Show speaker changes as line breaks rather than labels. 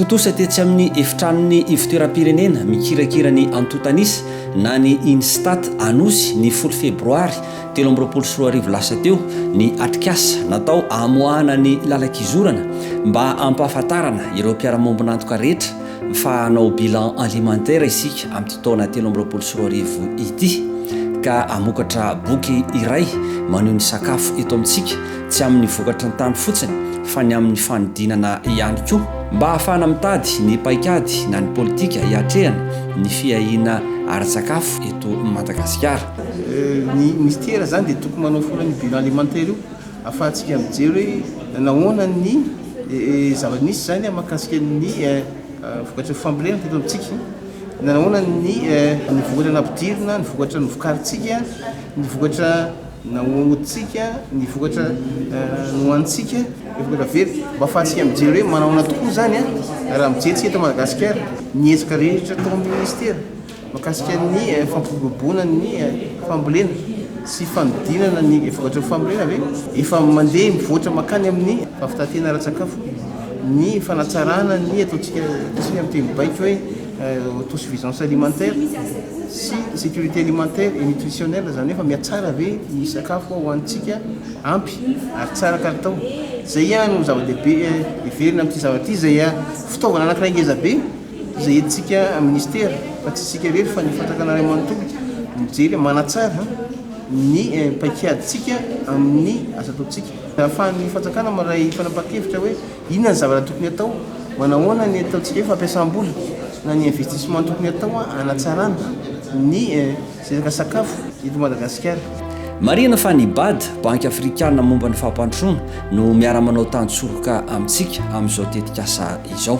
Tontosa tetsy amin'ny efitranon'ny ivotoeram-pirenena mikirakira ny antontanisa na ny Instat Anosy ny folo febroary telo amby roapolo sy roa arivo lasa teo ny atrikasa natao amoahana ny lalan-kizorana mba hampahafantarana ireo mpiara-miombon'antoka rehetra fa hanao bilan alimentaire isika amin'ity taona telo amby roapolo sy roa arivo ity ka hamokatra boky iray maneho ny sakafo eto amintsika tsy amin'ny vokatry ny tany fotsiny fa ny amin'ny fanodinana ihany koa mba hahafahana mitady ny paikady na ny politika hiatrehana ny fiahiana ara-tsakafo eto Madagasikara. Ny
Minisitera izany dia tokony manao foana io bilan alimentaire io Afahantsika mijery hoe nahoana ny zava-misy izany mahakasika ny vokatry ny fambolena teto amintsika, na nahoana ny vokatra nampidirina, ny vokatra novokarintsika, ny vokatra nahodintsika, ny vokatra nohanintsika, ny vokatra very. Mba afahantsika mijery hoe manahoana tokoa izany raha mijery isika eto Madagasikara, ny hetsika rehetra ataon'ny Minisitera. Mahakasika ny fampiroboroboana ny fambolena sy fanodinana ny vokatra ny fambolena ve? Efa mandeha mivoatra mankany amin'ny fampitantena ara-tsakafo ny fanatsarana ny ataontsika isika amin'ny teny baiko hoe autosuffisance alimentaire sy sécurité alimentaire et nutritionnelle, izany hoe fa mihatsara ve ny sakafo hohanintsika ampy ary tsara kalitao? Izay no zava-dehibe heverina amin'ity zavatra ity izay fitaovana anankiray ngezabe. izay entintsika minisitera fa tsy isika irery fa ny fanjakana iray manontolo mijery manatsara ny paikadintsika amin'ny asa ataontsika. Ahafahan'ny fanjakana mandray fanapahan-kevitra hoe inona ny zavatra tokony atao, manahoana ny ataontsika hoe fampiasam-bola na ny investissement tokony atao hanatsarana ny Sehatra sakafo eto Madagasikara. Marihina fa
ny Bad, Banky Afrikana momba ny Fampandrosoana, no miara-manao tantsoroka amintsika amin'izao tetikasa izao.